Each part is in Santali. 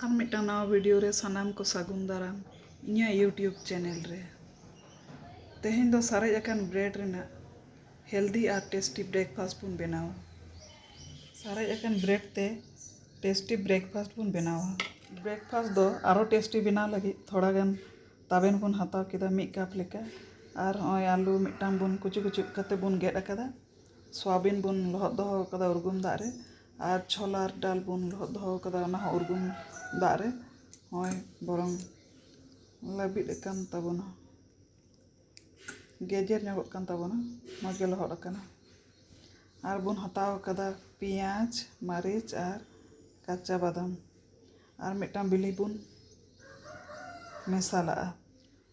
ᱟᱨ ᱢᱤᱫᱴᱟᱝ ᱱᱟᱣᱟ ᱵᱷᱤᱰᱤᱭᱳ ᱨᱮ ᱥᱟᱱᱟᱢ ᱠᱚ ᱥᱟᱹᱜᱩᱱ ᱫᱟᱨᱟᱢ ᱤᱧᱟᱹᱜ ᱤᱭᱩᱴᱤᱭᱩᱵᱽ ᱪᱮᱱᱮᱞ ᱨᱮ ᱛᱮᱦᱮᱧ ᱫᱚ ᱥᱟᱨᱮᱡ ᱟᱠᱟᱱ ᱵᱨᱮᱰ ᱨᱮᱱᱟᱜ ᱦᱮᱞᱫᱤ ᱟᱨ ᱴᱮᱥᱴᱤ ᱵᱨᱮᱠᱯᱷᱟᱥᱴ ᱵᱚᱱ ᱵᱮᱱᱟᱣᱟ ᱥᱟᱨᱮᱡ ᱟᱠᱟᱱ ᱵᱨᱮᱰ ᱛᱮ ᱴᱮᱥᱴᱤ ᱵᱨᱮᱠᱯᱷᱟᱥᱴ ᱵᱚᱱ ᱵᱮᱱᱟᱣᱟ ᱵᱨᱮᱠᱯᱷᱟᱥᱴ ᱫᱚ ᱟᱨᱚ ᱴᱮᱥᱴᱤ ᱵᱮᱱᱟᱣ ᱞᱟᱹᱜᱤᱫ ᱛᱷᱚᱲᱟ ᱜᱟᱱ ᱛᱟᱵᱮᱱ ᱵᱚᱱ ᱦᱟᱛᱟᱣ ᱠᱮᱫᱟ ᱢᱤᱫ ᱠᱟᱯ ᱞᱮᱠᱟ ᱟᱨ ᱦᱚᱸᱜᱼᱚᱭ ᱟᱹᱞᱩ ᱢᱤᱫᱴᱟᱝ ᱵᱚᱱ ᱠᱩᱪᱩ ᱠᱩᱪᱩ ᱠᱟᱛᱮᱫ ᱵᱚᱱ ᱜᱮᱫ ᱟᱠᱟᱫᱟ ᱥᱚᱣᱟᱵᱤᱱ ᱵᱚᱱ ᱞᱚᱦᱚᱫ ᱫᱚᱦᱚ ᱟᱠᱟᱫᱟ ᱩᱨᱜᱩᱢ ᱫᱟᱜ ᱨᱮ ᱟᱨ ᱪᱷᱚᱞᱟ ᱟᱨ ᱰᱟᱞ ᱵᱚᱱ ᱞᱚᱦᱚᱫ ᱫᱚᱦᱚ ᱟᱠᱟᱫᱟ ᱚᱱᱟ ᱦᱚᱸ ᱩᱨᱜᱩᱢ ᱫᱟᱜ ᱨᱮ ᱱᱚᱜᱼᱚᱭ ᱵᱚᱨᱚᱝ ᱞᱟᱹᱵᱤᱫ ᱟᱠᱟᱱ ᱛᱟᱵᱚᱱᱟ ᱜᱮᱡᱮᱨ ᱧᱚᱜᱚᱜ ᱠᱟᱱ ᱛᱟᱵᱚᱱᱟ ᱢᱚᱡᱽ ᱜᱮ ᱞᱚᱦᱚᱫ ᱟᱠᱟᱱᱟ ᱟᱨ ᱵᱚᱱ ᱦᱟᱛᱟᱣ ᱟᱠᱟᱫᱟ ᱯᱮᱸᱭᱟᱡᱽ ᱢᱟᱹᱨᱤᱪ ᱟᱨ ᱠᱟᱸᱪᱟ ᱵᱟᱫᱟᱢ ᱟᱨ ᱢᱤᱫᱴᱟᱝ ᱵᱤᱞᱤ ᱵᱚᱱ ᱢᱮᱥᱟᱞᱟᱜᱼᱟ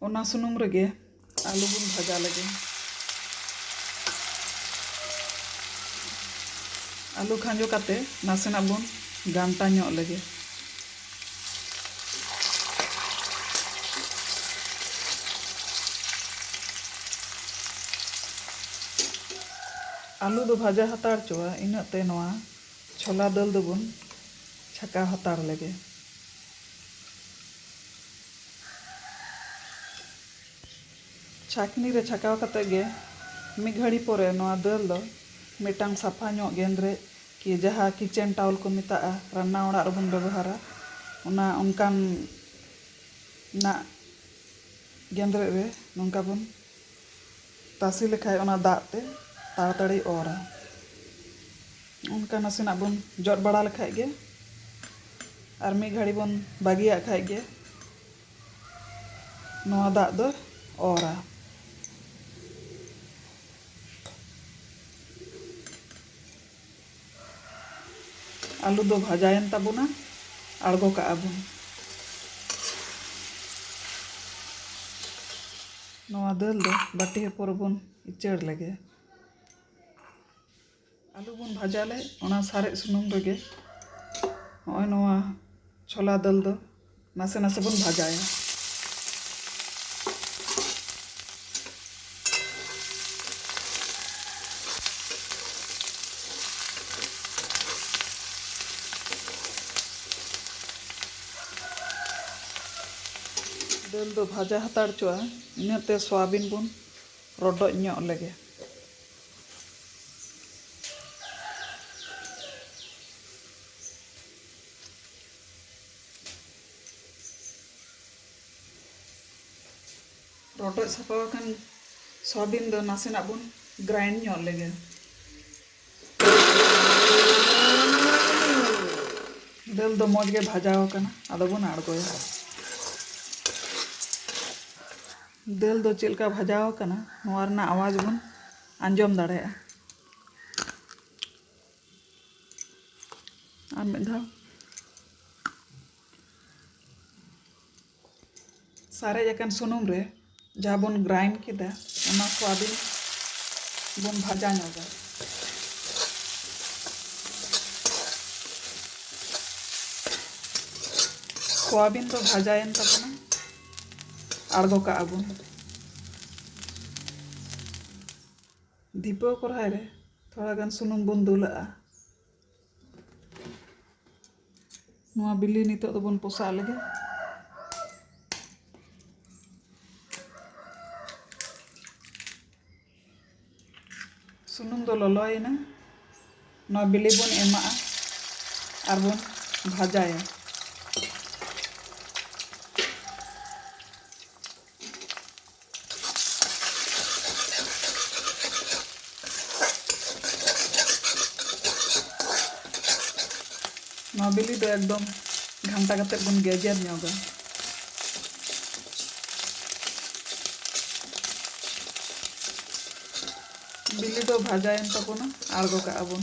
ᱚᱱᱟ ᱥᱩᱱᱩᱢ ᱨᱮᱜᱮ ᱟᱹᱞᱩ ᱵᱚᱱ ᱵᱷᱟᱡᱟ ᱞᱮᱜᱮ ᱟᱹᱞᱩ ᱠᱷᱟᱸᱡᱚ ᱠᱟᱛᱮ ᱱᱟᱥᱮᱱᱟᱜ ᱵᱚᱱ ᱜᱷᱟᱱᱴᱟ ᱧᱚᱜ ᱞᱮᱜᱮ ᱟᱹᱞᱩ ᱫᱚ ᱵᱷᱟᱡᱟ ᱦᱟᱛᱟᱲ ᱪᱚᱣᱟ ᱤᱱᱟᱹᱜ ᱛᱮ ᱱᱚᱣᱟ ᱪᱷᱚᱞᱟ ᱫᱟᱹᱞ ᱫᱚᱵᱚᱱ ᱪᱷᱟᱠᱟᱣ ᱦᱟᱛᱟᱲ ᱞᱮᱜᱮ ᱪᱷᱟᱠᱱᱤ ᱨᱮ ᱪᱷᱟᱠᱟᱣ ᱠᱟᱛᱮ ᱜᱮ ᱢᱤᱫ ᱜᱷᱟᱹᱲᱤ ᱯᱚᱨᱮ ᱱᱚᱣᱟ ᱫᱟᱹᱞ ᱫᱚ ᱢᱤᱫᱴᱟᱝ ᱥᱟᱯᱷᱟ ᱧᱚᱜ ᱜᱮᱸᱫᱽᱨᱮᱡ ᱠᱤ ᱡᱟᱦᱟᱸ ᱠᱤᱪᱮᱱ ᱴᱟᱣᱞ ᱠᱚ ᱢᱮᱛᱟᱜᱼᱟ ᱨᱟᱱᱱᱟ ᱚᱲᱟᱜ ᱨᱮᱵᱚᱱ ᱵᱮᱵᱚᱦᱟᱨᱟ ᱚᱱᱟ ᱚᱱᱠᱟᱱ ᱱᱟᱜ ᱜᱮᱸᱫᱽᱨᱮᱡ ᱨᱮ ᱱᱚᱝᱠᱟ ᱵᱚᱱ ᱛᱟᱥᱮ ᱞᱮᱠᱷᱟᱱ ᱚᱱᱟ ᱫᱟᱜ ᱛᱮ ᱛᱟᱲᱟᱛᱟᱹᱲᱤ ᱚᱨᱟ ᱚᱱᱠᱟ ᱱᱟᱥᱮᱱᱟᱜ ᱵᱚᱱ ᱡᱚᱫ ᱵᱟᱲᱟ ᱞᱮᱠᱷᱟᱱ ᱜᱮ ᱟᱨ ᱢᱤᱫ ᱜᱷᱟᱹᱲᱤ ᱵᱚᱱ ᱵᱟᱹᱜᱤᱭᱟᱜ ᱠᱷᱟᱱ ᱜᱮ ᱱᱚᱣᱟ ᱫᱟᱜ ᱫᱚ ᱚᱨᱟ ᱟᱹᱞᱩ ᱫᱚ ᱵᱷᱟᱡᱟᱭᱮᱱ ᱛᱟᱵᱚᱱᱟ ᱟᱬᱜᱚ ᱠᱟᱜᱼᱟ ᱵᱚᱱ ᱱᱚᱣᱟ ᱫᱟᱹᱞ ᱫᱚ ᱵᱟᱹᱴᱤ ᱦᱚᱯᱚᱱ ᱨᱮᱵᱚᱱ ᱩᱪᱟᱹᱲ ᱞᱮᱜᱮ ᱟᱹᱞᱩ ᱵᱚᱱ ᱵᱷᱟᱡᱟ ᱞᱮᱫ ᱚᱱᱟ ᱥᱟᱨᱮᱡ ᱥᱩᱱᱩᱢ ᱨᱮᱜᱮ ᱱᱚᱜᱼᱚᱭ ᱱᱚᱣᱟ ᱪᱷᱚᱞᱟ ᱫᱟᱹᱞ ᱫᱚ ᱱᱟᱥᱮ ᱱᱟᱥᱮ ᱵᱚᱱ ᱵᱷᱟᱡᱟᱭᱟ ᱫᱟᱹᱞ ᱫᱚ ᱵᱷᱟᱡᱟ ᱦᱟᱛᱟᱲ ᱪᱚᱜᱼᱟ ᱤᱱᱟᱹᱛᱮ ᱥᱚᱣᱟᱵᱤᱱ ᱵᱚᱱ ᱨᱚᱰᱚᱡ ᱧᱚᱜ ᱞᱮᱜᱮ ᱨᱚᱰᱚᱡ ᱥᱟᱯᱷᱟ ᱟᱠᱟᱱ ᱥᱚᱣᱟᱵᱤᱱ ᱫᱚ ᱱᱟᱥᱮᱱᱟᱜ ᱵᱚᱱ ᱜᱨᱟᱭᱤᱱᱰ ᱧᱚᱜ ᱞᱮᱜᱮ ᱫᱟᱹᱞ ᱫᱚ ᱢᱚᱡᱽ ᱜᱮ ᱵᱷᱟᱡᱟ ᱟᱠᱟᱱᱟ ᱟᱫᱚ ᱵᱚᱱ ᱟᱬᱜᱚᱭᱟ ᱫᱟᱹᱞ ᱫᱚ ᱪᱮᱫ ᱞᱮᱠᱟ ᱵᱷᱟᱡᱟ ᱟᱠᱟᱱᱟ ᱱᱚᱣᱟ ᱨᱮᱱᱟᱜ ᱟᱣᱟᱡᱽ ᱵᱚᱱ ᱟᱸᱡᱚᱢ ᱫᱟᱲᱮᱭᱟᱜᱼᱟ ᱟᱨ ᱢᱤᱫ ᱫᱷᱟᱣ ᱥᱟᱨᱮᱡ ᱟᱠᱟᱱ ᱥᱩᱱᱩᱢ ᱨᱮ ᱡᱟᱦᱟᱸ ᱵᱚᱱ ᱜᱨᱟᱭᱤᱱᱰ ᱠᱮᱫᱟ ᱚᱱᱟ ᱠᱚ ᱟᱹᱰᱤ ᱵᱚᱱ ᱵᱷᱟᱡᱟ ᱧᱚᱜᱟ ᱥᱚᱣᱟᱵᱤᱱ ᱫᱚ ᱵᱷᱟᱡᱟᱭᱮᱱ ᱛᱟᱵᱚᱱᱟ ᱟᱬᱜᱚ ᱠᱟᱜᱼᱟ ᱵᱚᱱ ᱫᱷᱤᱯᱟᱹᱣ ᱠᱚᱨᱦᱟᱭ ᱨᱮ ᱛᱷᱚᱲᱟ ᱜᱟᱱ ᱥᱩᱱᱩᱢ ᱵᱚᱱ ᱫᱩᱞᱟᱜᱼᱟ ᱱᱚᱣᱟ ᱵᱤᱞᱤ ᱱᱤᱛᱚᱜ ᱫᱚᱵᱚᱱ ᱯᱚᱥᱟᱜ ᱞᱮᱜᱮ ᱥᱩᱱᱩᱢ ᱫᱚ ᱞᱚᱞᱚᱭᱮᱱᱟ ᱱᱚᱣᱟ ᱵᱤᱞᱤ ᱵᱚᱱ ᱮᱢᱟᱜᱼᱟ ᱟᱨ ᱵᱚᱱ ᱵᱷᱟᱡᱟᱭᱟ ᱱᱚᱣᱟ ᱵᱤᱞᱤ ᱫᱚ ᱮᱠᱫᱚᱢ ᱜᱷᱟᱱᱴᱟ ᱠᱟᱛᱮ ᱵᱚᱱ ᱜᱮᱡᱮᱨ ᱧᱚᱜᱟ ᱵᱤᱞᱤ ᱫᱚ ᱵᱷᱟᱡᱟᱭᱮᱱ ᱛᱟᱵᱚᱱᱟ ᱟᱬᱜᱚ ᱠᱟᱜᱼᱟ ᱵᱚᱱ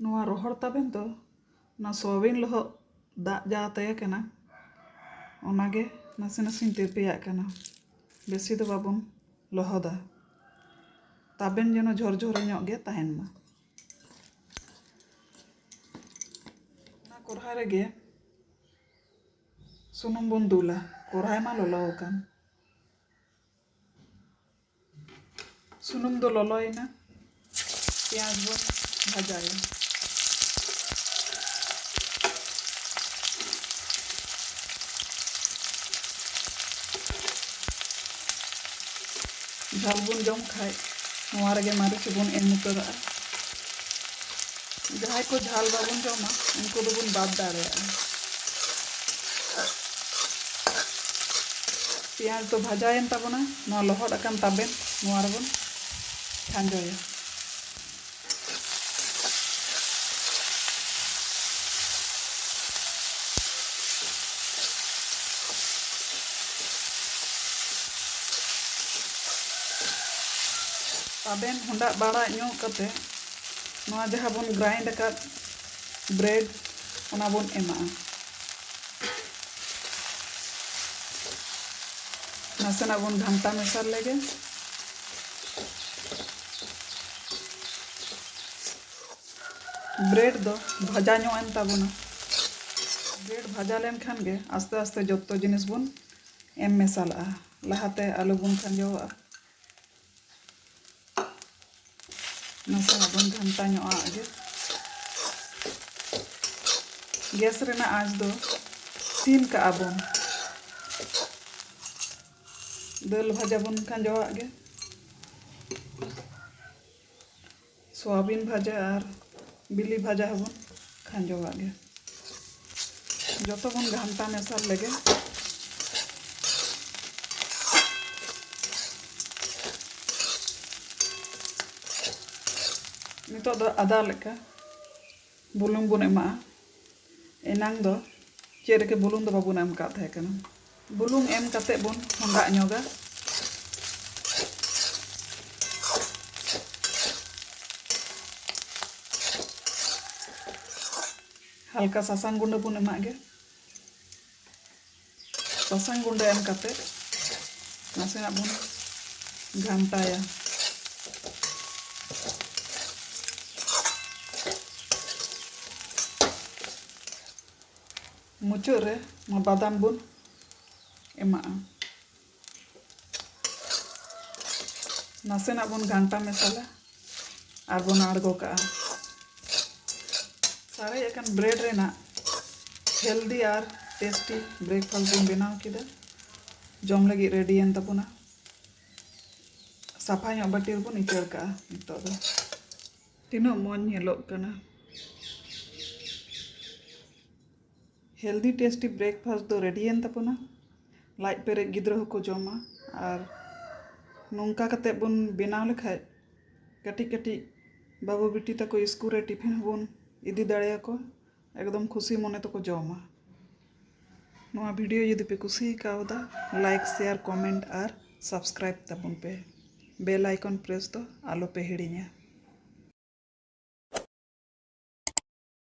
ᱱᱚᱣᱟ ᱨᱚᱦᱚᱲ ᱛᱟᱵᱮᱱ ᱫᱚ ᱚᱱᱟ ᱥᱚᱣᱟᱵᱤᱱ ᱞᱚᱦᱚᱫ ᱫᱟᱜ ᱡᱟ ᱛᱟᱦᱮᱸ ᱠᱟᱱᱟ ᱚᱱᱟᱜᱮ ᱱᱟᱥᱮ ᱱᱟᱥᱮᱧ ᱛᱤᱨᱯᱤᱭᱟᱜ ᱠᱟᱱᱟ ᱵᱮᱥᱤ ᱫᱚ ᱵᱟᱵᱚᱱ ᱞᱚᱦᱚᱫᱟ ᱛᱟᱵᱮᱱ ᱡᱮᱱᱚ ᱡᱷᱚᱨᱡᱷᱚᱨᱮ ᱧᱚᱜ ᱜᱮ ᱛᱟᱦᱮᱱ ᱢᱟ ᱚᱱᱟ ᱠᱚᱨᱦᱟ ᱨᱮᱜᱮ ᱥᱩᱱᱩᱢ ᱵᱚᱱ ᱫᱩᱞᱟ ᱠᱚᱨᱦᱟᱭ ᱢᱟ ᱞᱚᱞᱚ ᱟᱠᱟᱱ ᱥᱩᱱᱩᱢ ᱫᱚ ᱞᱚᱞᱚᱭᱮᱱᱟ ᱯᱮᱸᱭᱟᱡᱽ ᱵᱚᱱ ᱵᱷᱟᱡᱟᱭᱟ ᱡᱷᱟᱞ ᱵᱚᱱ ᱡᱚᱢ ᱠᱷᱟᱡ ᱱᱚᱣᱟ ᱨᱮᱜᱮ ᱢᱟᱹᱨᱤᱪ ᱵᱚᱱ ᱮᱢ ᱩᱛᱟᱹᱨᱟᱜᱼᱟ ᱡᱟᱦᱟᱸᱭ ᱠᱚ ᱡᱷᱟᱞ ᱵᱟᱵᱚᱱ ᱡᱚᱢᱟ ᱩᱱᱠᱩ ᱫᱚᱵᱚᱱ ᱵᱟᱫ ᱫᱟᱲᱮᱭᱟᱜᱼᱟ ᱯᱮᱸᱭᱟᱡᱽ ᱫᱚ ᱵᱷᱟᱡᱟᱭᱮᱱ ᱛᱟᱵᱚᱱᱟ ᱱᱚᱣᱟ ᱞᱚᱦᱚᱫ ᱟᱠᱟᱱ ᱛᱟᱵᱮᱱ ᱱᱚᱣᱟ ᱨᱮᱵᱚᱱ ᱠᱷᱟᱸᱡᱚᱭᱟ᱾ ᱛᱟᱵᱮᱱ ᱦᱚᱸᱰᱟᱜ ᱵᱟᱲᱟ ᱧᱚᱜ ᱠᱟᱛᱮ ᱱᱚᱣᱟ ᱡᱟᱦᱟᱸ ᱵᱚᱱ ᱜᱨᱟᱭᱤᱱᱰ ᱟᱠᱟᱫ ᱵᱨᱮᱰ ᱚᱱᱟ ᱵᱚᱱ ᱮᱢᱟᱜᱼᱟ᱾ ᱱᱟᱥᱮᱱᱟᱜ ᱵᱚᱱ ᱜᱷᱟᱱᱴᱟ ᱢᱮᱥᱟ ᱞᱮᱜᱮ ᱵᱨᱮᱰ ᱫᱚ ᱵᱷᱟᱡᱟ ᱧᱚᱜ ᱮᱱ ᱛᱟᱵᱚᱱᱟ ᱵᱨᱮᱰ ᱵᱷᱟᱡᱟ ᱞᱮᱱᱠᱷᱟᱱ ᱜᱮ ᱟᱥᱛᱮ ᱟᱥᱛᱮ ᱡᱚᱛᱚ ᱡᱤᱱᱤᱥ ᱵᱚᱱ ᱮᱢ ᱢᱮᱥᱟᱞᱟᱜᱼᱟ ᱞᱟᱦᱟᱛᱮ ᱟᱞᱩ ᱵᱚᱱ ᱠᱷᱟᱸᱡᱚᱣᱟᱜᱼᱟ ᱱᱟᱥᱮᱱᱟᱜ ᱵᱚᱱ ᱜᱷᱟᱱᱴᱟ ᱧᱚᱜ ᱟᱜ ᱜᱮ ᱜᱮᱥ ᱨᱮᱱᱟᱜ ᱟᱸᱪ ᱫᱚ ᱥᱤᱢ ᱠᱟᱜᱼᱟ ᱵᱚᱱ ᱫᱟᱹᱞ ᱵᱷᱟᱡᱟ ᱵᱚᱱ ᱠᱷᱟᱸᱡᱚᱣᱟᱜ ᱜᱮ ᱥᱚᱣᱟᱵᱤᱱ ᱵᱷᱟᱡᱟ ᱟᱨ ᱵᱤᱞᱤ ᱵᱷᱟᱡᱟ ᱦᱚᱸᱵᱚᱱ ᱠᱷᱟᱸᱡᱚᱣᱟᱜ ᱜᱮ ᱡᱚᱛᱚ ᱵᱚᱱ ᱜᱷᱟᱱᱴᱟ ᱢᱮᱥᱟ ᱞᱮᱜᱮ ᱱᱤᱛᱚᱜ ᱫᱚ ᱟᱫᱟ ᱞᱮᱠᱟ ᱵᱩᱞᱩᱝ ᱵᱚᱱ ᱮᱢᱟᱜᱼᱟ ᱮᱱᱟᱝ ᱫᱚ ᱪᱮᱫ ᱨᱮᱜᱮ ᱵᱩᱞᱩᱝ ᱫᱚ ᱵᱟᱵᱚᱱ ᱮᱢ ᱠᱟᱜ ᱛᱟᱦᱮᱸ ᱠᱟᱱᱟ ᱵᱩᱞᱩᱝ ᱮᱢ ᱠᱟᱛᱮ ᱵᱚᱱ ᱦᱚᱸᱰᱟᱜ ᱧᱚᱜᱟ ᱦᱟᱞᱠᱟ ᱥᱟᱥᱟᱝ ᱜᱩᱸᱰᱟᱹ ᱵᱚᱱ ᱮᱢᱟᱜ ᱜᱮ ᱥᱟᱥᱟᱝ ᱜᱩᱸᱰᱟᱹ ᱮᱢ ᱠᱟᱛᱮ ᱱᱟᱥᱮᱱᱟᱜ ᱵᱚᱱ ᱜᱷᱟᱱᱴᱟᱭᱟ ᱢᱩᱪᱟᱹᱫ ᱨᱮ ᱱᱚᱣᱟ ᱵᱟᱫᱟᱢ ᱵᱚᱱ ᱮᱢᱟᱜᱼᱟ ᱱᱟᱥᱮᱱᱟᱜ ᱵᱚᱱ ᱜᱷᱟᱱᱴᱟ ᱢᱮᱥᱟᱞᱟ ᱟᱨ ᱵᱚᱱ ᱟᱬᱜᱚ ᱠᱟᱜᱼᱟ ᱥᱟᱨᱮᱡ ᱟᱠᱟᱱ ᱵᱨᱮᱰ ᱨᱮᱱᱟᱜ ᱦᱮᱞᱫᱤ ᱟᱨ ᱴᱮᱥᱴᱤ ᱵᱨᱮᱠᱯᱷᱟᱥᱴ ᱵᱚᱱ ᱵᱮᱱᱟᱣ ᱠᱮᱫᱟ ᱡᱚᱢ ᱞᱟᱹᱜᱤᱫ ᱨᱮᱰᱤᱭᱮᱱ ᱛᱟᱵᱚᱱᱟ ᱥᱟᱯᱷᱟ ᱧᱚᱜ ᱵᱟᱹᱴᱤ ᱨᱮᱵᱚᱱ ᱤᱪᱟᱹᱲ ᱠᱟᱜᱼᱟ ᱱᱤᱛᱚᱜ ᱫᱚ ᱛᱤᱱᱟᱹᱜ ᱢᱚᱡᱽ ᱧᱮᱞᱚᱜ ᱠᱟᱱᱟ ᱦᱮᱞᱫᱤ ᱴᱮᱥᱴᱤ ᱵᱨᱮᱠᱯᱷᱟᱥᱴ ᱫᱚ ᱨᱮᱰᱤᱭᱮᱱ ᱛᱟᱵᱚᱱᱟ ᱞᱟᱡ ᱯᱮᱨᱮᱡ ᱜᱤᱫᱽᱨᱟᱹ ᱦᱚᱸᱠᱚ ᱡᱚᱢᱟ ᱟᱨ ᱱᱚᱝᱠᱟ ᱠᱟᱛᱮᱫ ᱵᱚᱱ ᱵᱮᱱᱟᱣ ᱞᱮᱠᱷᱟᱱ ᱠᱟᱹᱴᱤᱡ ᱠᱟᱹᱴᱤᱡ ᱵᱟᱹᱵᱩ ᱵᱤᱴᱤ ᱛᱟᱠᱚ ᱥᱠᱩᱞ ᱨᱮ ᱴᱤᱯᱷᱤᱱ ᱦᱚᱸᱵᱚᱱ ᱤᱫᱤ ᱫᱟᱲᱮᱭᱟᱠᱚᱣᱟ ᱮᱠᱫᱚᱢ ᱠᱷᱩᱥᱤ ᱢᱚᱱᱮ ᱛᱮᱠᱚ ᱡᱚᱢᱟ ᱱᱚᱣᱟ ᱵᱷᱤᱰᱤᱭᱳ ᱡᱩᱫᱤ ᱯᱮ ᱠᱩᱥᱤ ᱠᱟᱣᱫᱟ ᱞᱟᱭᱤᱠ ᱥᱮᱭᱟᱨ ᱠᱚᱢᱮᱱᱴ ᱟᱨ ᱥᱟᱵᱥᱠᱨᱟᱭᱤᱵᱽ ᱛᱟᱵᱚᱱ ᱯᱮ ᱵᱮᱞ ᱟᱭᱠᱚᱱ ᱯᱨᱮᱥ ᱫᱚ ᱟᱞᱚ ᱯᱮ ᱦᱤᱲᱤᱧᱟ